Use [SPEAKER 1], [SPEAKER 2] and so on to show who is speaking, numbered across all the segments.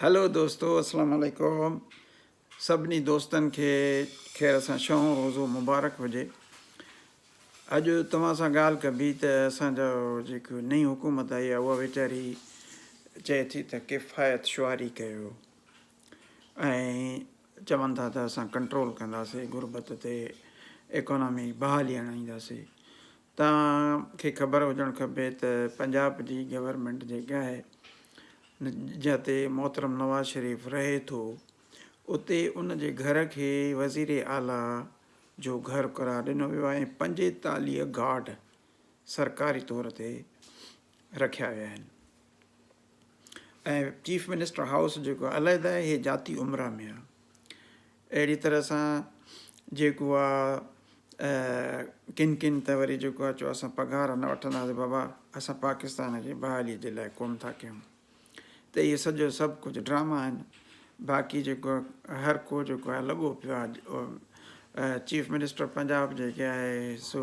[SPEAKER 1] Hello دوستو اسلام عليڪم سڀني دوستن کي خير سان شون روزو مبارڪ هجي اڄ توهان سان ڳالهه ڪبي ته اسان جو جيڪو نئين حڪومت آئي آهي اها ويچاري چئي ٿي ته ڪفايت شعاري ڪيو ۽ چون ٿا ته اسان ڪنٽرول ڪنداسي غربت تي ايڪانامي بحالي آڻينداسي توهان کي خبر هجڻ کپي ته پنجاب جي گورنمينٽ جيڪي آهي جتي محترم نواز شريف رهي ٿو اتي ان جي گهر کي وزير اعليٰ جو گهر قرار ڏنو ويو آهي ۽ پنجيتاليهه گارڊ سرڪاري طور تي رکيا ويا آهن. ۽ چيف منسٽر هائوس جيڪو علحده آهي هي ذاتي عمرا ۾ آهي اهڙي طرح سان جيڪو آهي ڪن ڪن ته وري جيڪو آهي چو اسان پگهار نه وٺنداسي بابا اسان پاڪستان جي بحالي جي لاء ڪوم ٿا ڪيون ته اهي سڄو سڀ ڪجهه ڊراما آهن باقي جيڪو هر ڪو جيڪو آهي لڳو پيو آهي چيف منسٽر پنجاب جيڪي آهي سو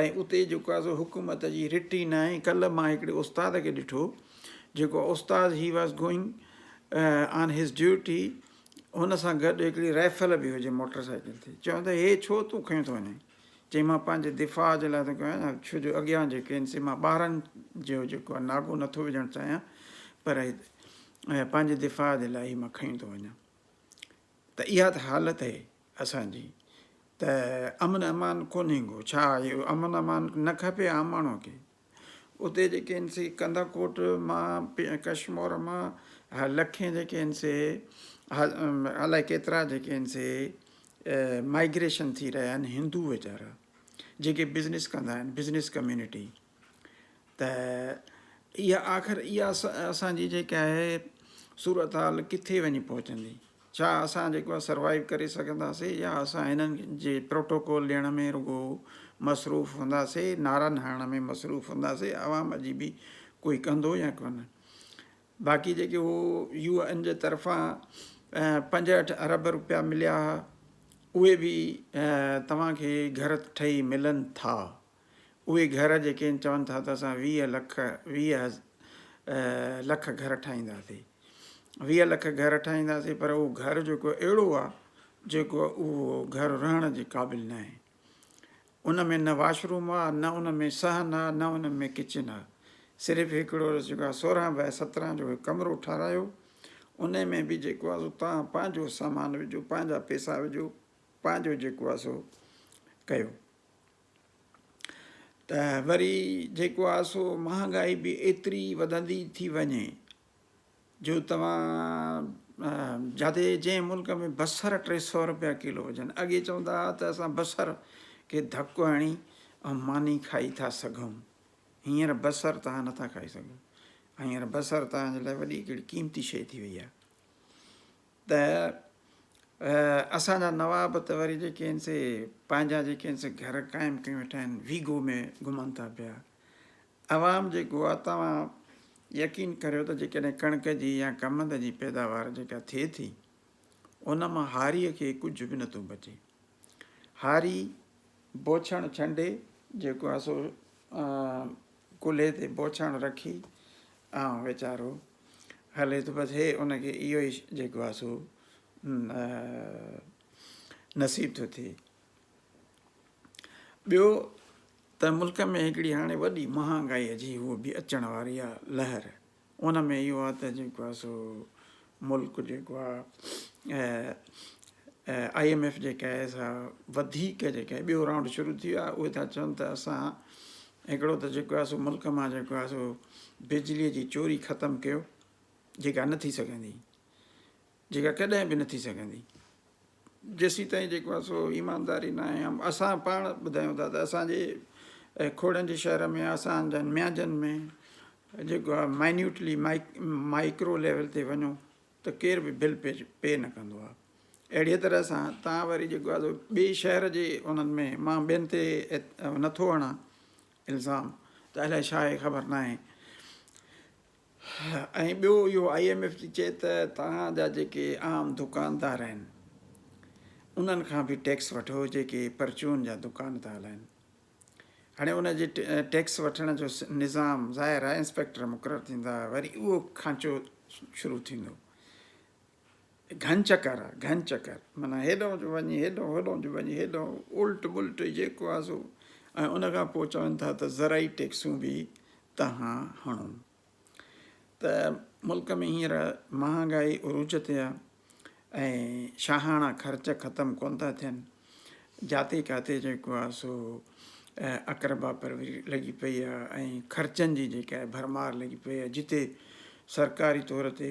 [SPEAKER 1] ۽ اتي جيڪو آهي سو حڪومت جي رٽ ئي ناهي ڪلهه مان هڪڙي استاد کي ڏٺو جيڪو استاد he was going on his duty هن سان گڏ هڪڙي رائفل به هجي موٽر سائيڪل تي چون ته هي ڇو تون کيون ٿو وڃين چي مان پنهنجي دفاع جي لاء ٿو ڪيان ڇو جو اڳيان جيڪي آهن سي مان ٻارن جو جيڪو آهي ناگو نٿو وجهڻ چاهيان پر پنهنجي دفاع جي لاء هي مان کيون ٿو وڃان ته اها ته حالت هي اسان جي ته امن امان ڪونهي ڪو ڇا اهو امن امان نه کپي عام ماڻهو کي اتي جيڪي آهن سي ڪنڌا ڪوٽ مان ڪشمور مان لکين جيڪي آهن سي الائي ڪيترا جيڪي آهن سي مائگريشن ٿي رهيا آهن هندو ويچارا جيڪي بزنس ڪندا آهن بزنس ڪميونٽي ته اها آخر اها اسان جي جيڪا آهي صورتحال ڪٿي وڃي پهچندي ڇا اسان جيڪو آهي سروائيو ڪري سگهنداسي يا اسان هنن جي پروٽوڪول ڏيڻ ۾ رڳو مصروف هونداسي نعرن هڻڻ ۾ مصروف هونداسي عوام جي به ڪوئي ڪندو يا ڪونه باقي جيڪي هو يو اين جي طرفان پنجهٺ ارب روپيا مليا هئا اهي به توهان کي گهر ٺهي ملن ٿا اهي گهر جيڪي ان چون ٿا ته اسان ويهه لک ويهه لک گهر ٺاهينداسي ويهه لک گهر ٺاهينداسي پر اهو گهر جيڪو اهڙو آ جيڪو اهو گهر رهڻ جي قابل ناهي ان ۾ نه واش روم آ نه ان ۾ صحن آ نه ان ۾ ڪچن آ صرف هڪڙو جيڪو آ سورهن بائي سترهن جو هڪ ڪمرو ٺارايو ان ۾ به جيڪو آ سو توهان پنهنجو سامان وجهو پنهنجا پئسا وجهو پنهنجو جيڪو آ سو ڪيو ته وري جيڪو آهي سو مهانگائي به ايتري وڌندي ٿي وڃي جو توهان جاٿي جنهن ملڪ ۾ بصر ٽي سؤ روپيا ڪلو هجن اڳي چوندا هئا ته اسان بصر کي ڌڪ هڻي ۽ ماني کائي ٿا سگهون هينئر بصر توهان نٿا کائي سگهو هينئر بصر توهان جي لاء وڏي هڪڙي قيمتي شيء ٿي وئي آهي ته اسان جا نواب ته وري جيڪي آهن سي پنهنجا جيڪي آهن سي گهر قائم ڪيون ويٺا آهن ويگو ۾ گهمن ٿا پيا عوام جيڪو آهي توهان يقين ڪريو ته جيڪڏهن ڪڻڪ جي يا ڪمند جي پيداوار جيڪا ٿئي ٿي ان مان هاريء کي ڪجهه به نٿو بچي هاري بوڇڻ ڇنڊي جيڪو آهي سو ڪلهي تي بوڇڻ رکي آئون ويچارو هلي ٿو بس هي ان کي اهو ئي جيڪو آهي سو نصيب ٿو ٿئي ٻيو ته ملڪ ۾ هڪڙي هاڻي وڏي مهانگائي جي هو به اچڻ واري آهي لهر ان ۾ اهو آهي ته جيڪو آهي سو ملڪ جيڪو آهي آء ايم ايف جيڪا آهي سا وڌيڪ جيڪا آهي ٻيو رائونڊ شروع ٿي ويو آهي اهي ٿا چون ته اسان هڪڙو ته جيڪو آهي سو ملڪ مان جيڪو آهي سو بجلي جي چوري ختم ڪيو جيڪا نه ٿي سگهندي جيڪا ڪڏهن به نه ٿي سگهندي جيسيتائين جيڪو آهي سو ايمانداري ناهي ۽ اسان پاڻ ٻڌايون ٿا ته اسان جي کوڙن جي شهر ۾ اسان جن ميانجن ۾ جيڪو آهي مائنيوٽلي مائڪرو ليول تي وڃو ته ڪير به بل پي پي نه ڪندو آهي اهڙيء طرح سان تان وري جيڪو آهي ٻئي شهر جي انهن ۾ مان ٻين تي نٿو هڻان الزام ته الائي ڇا آهي خبر ناهي ۽ ٻيو اهو آء ايم ايف ٿي چئي ته توهان جا جيڪي عام دڪاندار آهن انهن کان به ٽيڪس وٺو جيڪي پرچون جا دڪان ٿا هلائن هاڻي ان جي ٽيڪس وٺڻ جو نظام ظاهر آهي انسپيڪٽر مقرر ٿيندا وري اهو کانچو شروع ٿيندو گهن چڪر آ گهن چڪر معنيٰ هيڏانهن جو وڃي هيڏانهن هوڏانهن جو وڃي هيڏانهن الٽ ملٽ جيڪو آ سو ۽ ان کان پوء چون ٿا ته زرعي ٽيڪسون به تهان هڻو ته ملڪ ۾ هينئر مهانگائي عروج تي آ ۽ شاهاڻا خرچ ختم ڪون ٿا ٿين جاتي ڪاتي جيڪو آ سو اقربا پروري لڳي پئي آ ۽ خرچن جي جيڪا ڀرمار لڳي پئي آ جتي سرڪاري طور تي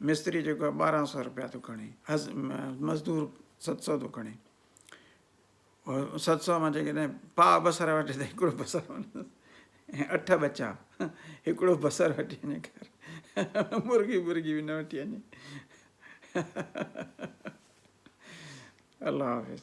[SPEAKER 1] مستري جيڪو آهي ٻارهن سؤ روپيا ٿو کڻي مزدور ست سؤ ٿو کڻي ست سؤ مان جيڪڏهن پاء بصر وٺي ته هڪڙو بصر ۽ اٺ ٻچا هڪڙو بصر وٺي وڃي کير مرغي برغي به نه وٺي وڃي الله حافظ